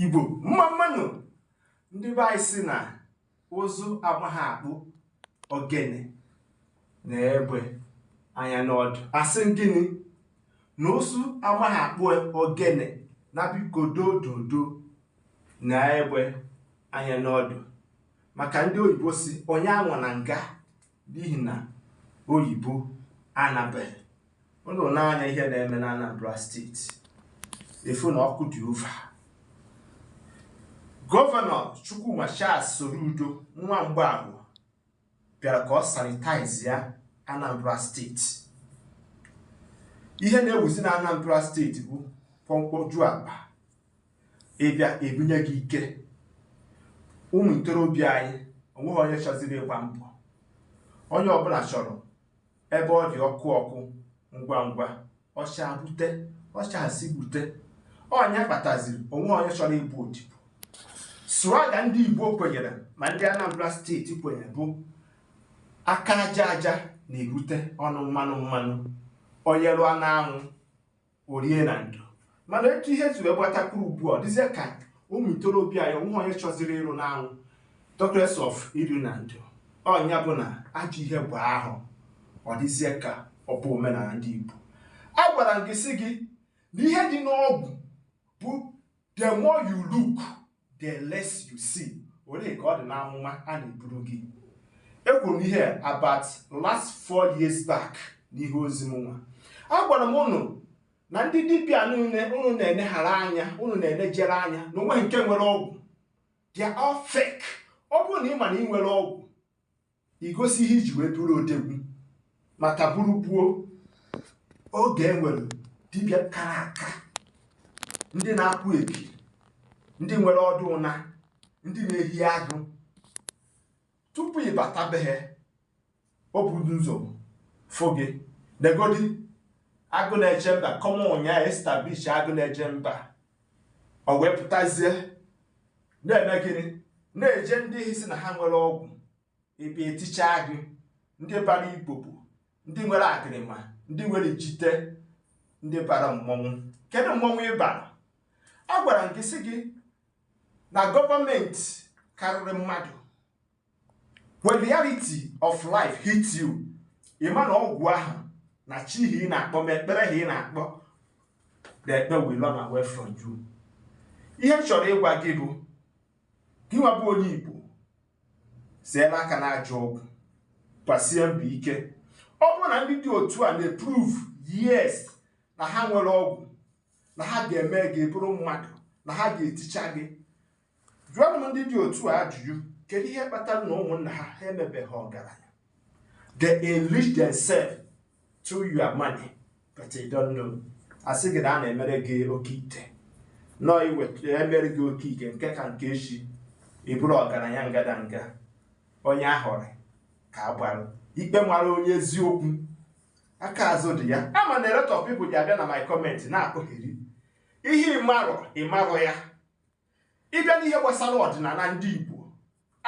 igbo mma mma nụ ndị be anyị si na ụzụ amaghị akpụ ogene nee egbe anya n'ọdụ a sị gịnị na ụzụ amaghị akpụ ogene na biko dododo nee egbe anya n'ọdụ maka ndị oyibo si onye anwana nga n'ihi na oyibo anabeghị unu nee anya ihe na-eme na Anambra steeti ị fụ na ọkụ dị ova gọvanọ Chukwuma Charles Soludo nwa Mgbafọ bịara ka ọ sanitaizi ya Anambra steeti ihe na-ewuzi na Anambra steeti bụ pọmkpọju akpa ị bịa e bunye gị ike ụmụ ntorobịa anyị o nweghị onye chọziri ịgba mbọ onye ọbụla chọrọ ebe ọ dị ọkụ ọkụ ngwa ngwa ọ chaa bute ọ chasie bute onye kpataziri o nweghị onye chọrọ ịbụ odibo slogan ndị igbo kwenyere ma ndị anambra steeti kwenyere bụ aka aja aja na-ebute ọnụ mmanụ mmanụ onye rụọ n'anwụ o rie na ndo mana etu ihe si wee gbata kwụrụ ugbu a ọ dịzie ka ụmụ ntorobịa ya o nweghị onye chọziri ịrụ n'anwụ talkless of iri na ndo ọ nya bụ na ajọ ihe gbaa ahọ ọ dịzie ka ọ bụ omenala ndị Igbo agwara m gị sị gị na ihe dị n'ọgwụ bụ the more you look the less you see olee ka ọ dị n'amụma a na-eburu gị ekwuru m ihe about last four years back n'ihe ozi mụnwa agwara m ụnụ na ndị dibịa niile ụnụ na-eneghara anya ụnụ na-enejere anya na o nweghị nke nwere ọgwụ they are all fake ọ bụrụ na ị ma na ị nwere ọgwụ I gosi ihe i ji wee bụrụ odogwu maka ọ bụrụ gboo oge e nwere dibịa kara aka ndị na-akwụ ekiri ndị nwere ọdụ ụna ndị na-ehi agụ tupu ị bata be ha o buru ụzọ fụ gị negodi agụ na-eche mba kọma ụnyaahụ establish agụ na-eche mba o wee pụtazie na-eme gịnị na-eje ndị ahụ si na ha nwere ọgwụ ebe eticha gị ndị bara ibobo ndị nwere akịrịma ndị nwere jite ndị bara mmọnwụ kedu mmọnwụ ị bara a gwara m gị sị gị na gọọmenti karịrị mmadụ when reality of life hits you ị ma na ọgwụ ahụ na chi ihe ị na-akpọ ma ekpere ha ị na-akpọ the ekpe will run away from you ihe m chọrọ ịgwa gị bụ gị nwa bụ onye Igbo seela aka na ajọ ọgwụ gbasie mbọ ike ọ bụrụ na ndị dị otu a na-eprove yes na ha nwere ọgwụ na ha ga-eme ka ị bụrụ mmadụ na ha ga-eticha gị Jụọnụ ndị dị otu a ajụjụ, kedu ihe kpatara na ụmụnna ha ha emebeghị ọgaranya? They enrich themselves through your money, but you don't know. Asị gị na a na-emere gị oke ite nọ iweta emere gị oke ite nke taa nke echi ị bụrụ ọgaranya ngadanga onye aghọrọ ka a gbara ikpe mara onye eziokwu aka azụ dị ya ama m na a lot of people ya-abịa na my comment na-akọgheri ihe ị marọ ị marọ ya ị bịa n'ihe gbasara ọdịnala ndị Igbo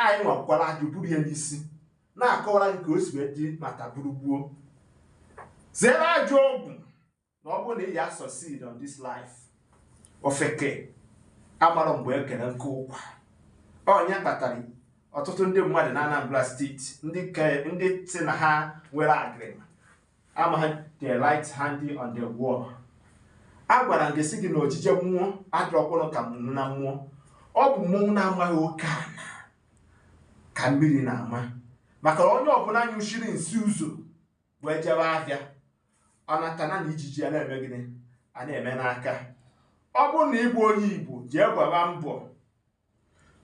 anyị nwakwara ajụ buru ya n'isi na-akọwara gị ka o si wee dị na taa bụrụ gboo zere ajọ ọgwụ na ọ bụrụ na ị ya succeed on this life ofeke amarọ mgbe e kere nkụ ụkwa ọ ya kpatara ọtụtụ ndị mmadụ na Anambra steeti ndị sị na ha nwere agịrịma amaghị the right hand on the wall agwara m gị sị gị na ojije mmụọ adịrọkwanụ ka ọnụna mmụọ ọ bụ mmụọ na-amaghị oke ana ka mmiri na-ama maka onye ọbụla nyụchiri nsị ụzọ wee jebe ahịa ọ nata na ijiji ya na-eme gịnị a na-eme n'aka ọ bụrụ na ị bụ onye Igbo jee gbaba mbọ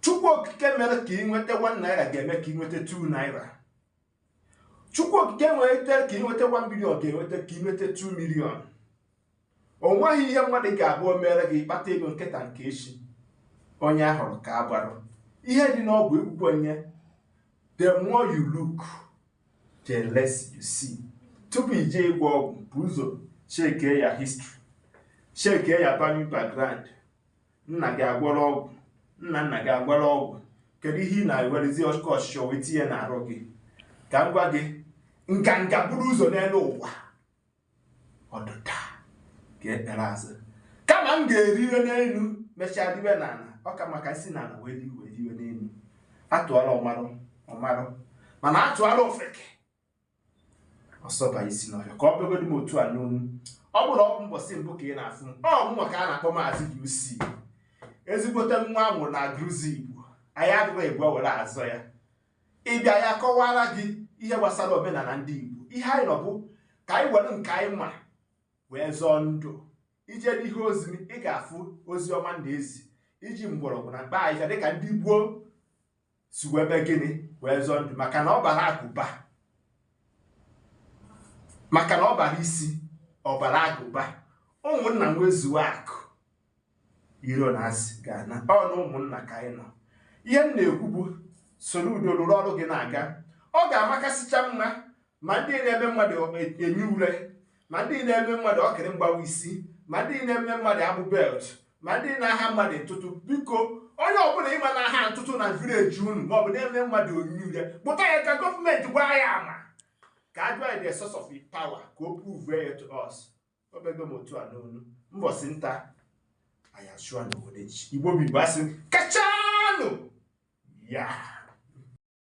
chukwu okike mere ka ị nweta 1 naira ga-eme ka ị nweta 2 naira chukwu okike nweta ka ị nweta 1 million ga-enweta ka ị nweta 2 million o nweghị ihe mmadụ ga-abụ o mere gị ị kpata ego nke taa nke echi onye aghọrọ ka a gbara ihe dị n'ọgwụ ekwukwe onye the more you look the less you see tupu i jee ịgwọ ọgwụ bu ụzọ chekee your history chekee your family background nna gị agwọrọ ọgwụ nna nna gị agwọrọ ọgwụ kedu ihe ị na-ewerezi ọkụ ọchịchọ wee tinye n'arụ gị ka m gwa gị nganga buru ụzọ n'elu ụwa ọdịda ga-ekpere azụ kama m ga-eriwe n'elu mechaa riwe n'ala ọ ka mma ka m si n'ala wee riwe riwe n'elu atụọra ọmarụ ọ marụ mana atụọra ofeke ọ sọba isi n'ọhịa ka ọ bụrụgodị m otu a n'ọnụ ọ bụrụ ọ bụ mbọsị mbụ ka ị na-afụ m ọ mụnwa ka a na-akpọ maazị UC ezigbote nwa a mụrụ na Agụlụezigbo anyị adịghị egwu were azọ ya ị bịa a ya-akọwara gị ihe gbasara omenala ndị Igbo ihe anyị nọ bụ ka anyị were nke anyị ma wee zọọ ndụ i jee n'ihe ozi ị ga-afụ ozi ọma na ezi iji mgbọrọgwụ na mkpa ahịhịa dịka ndị gboo si wee mee gịnị wee zọọ ndụ maka na ọ bara agụba maka na ọ bara isi ọ bara agụba ụmụnna nwezuo akụ iro na asị ga-ana ọ na ụmụnna ka anyị nọ ihe m na-ekwu bụ soro udo rụrụ ọrụ gị na-aga ọ ga-amakasịcha mma ma ndị na-eme mmadụ enyi ure ma ndị na-eme mmadụ okiri mgbawa isi ma ndị na-eme mmadụ abụ belt ma ndị na-aha mmadụ ntụtụ biko onye ọbụla ị ma na-aha ntụtụ na village unu maọbụ na-eme mmadụ enyi ure kpụta ya ka gọọmenti gbaa ya ama ka a jụọ the source of power ka o prove ya to us o bego m otu a n'ọnụ mbọsị nta anyị achụọ n'obodo igbo bụ igbo asị kachanụ ya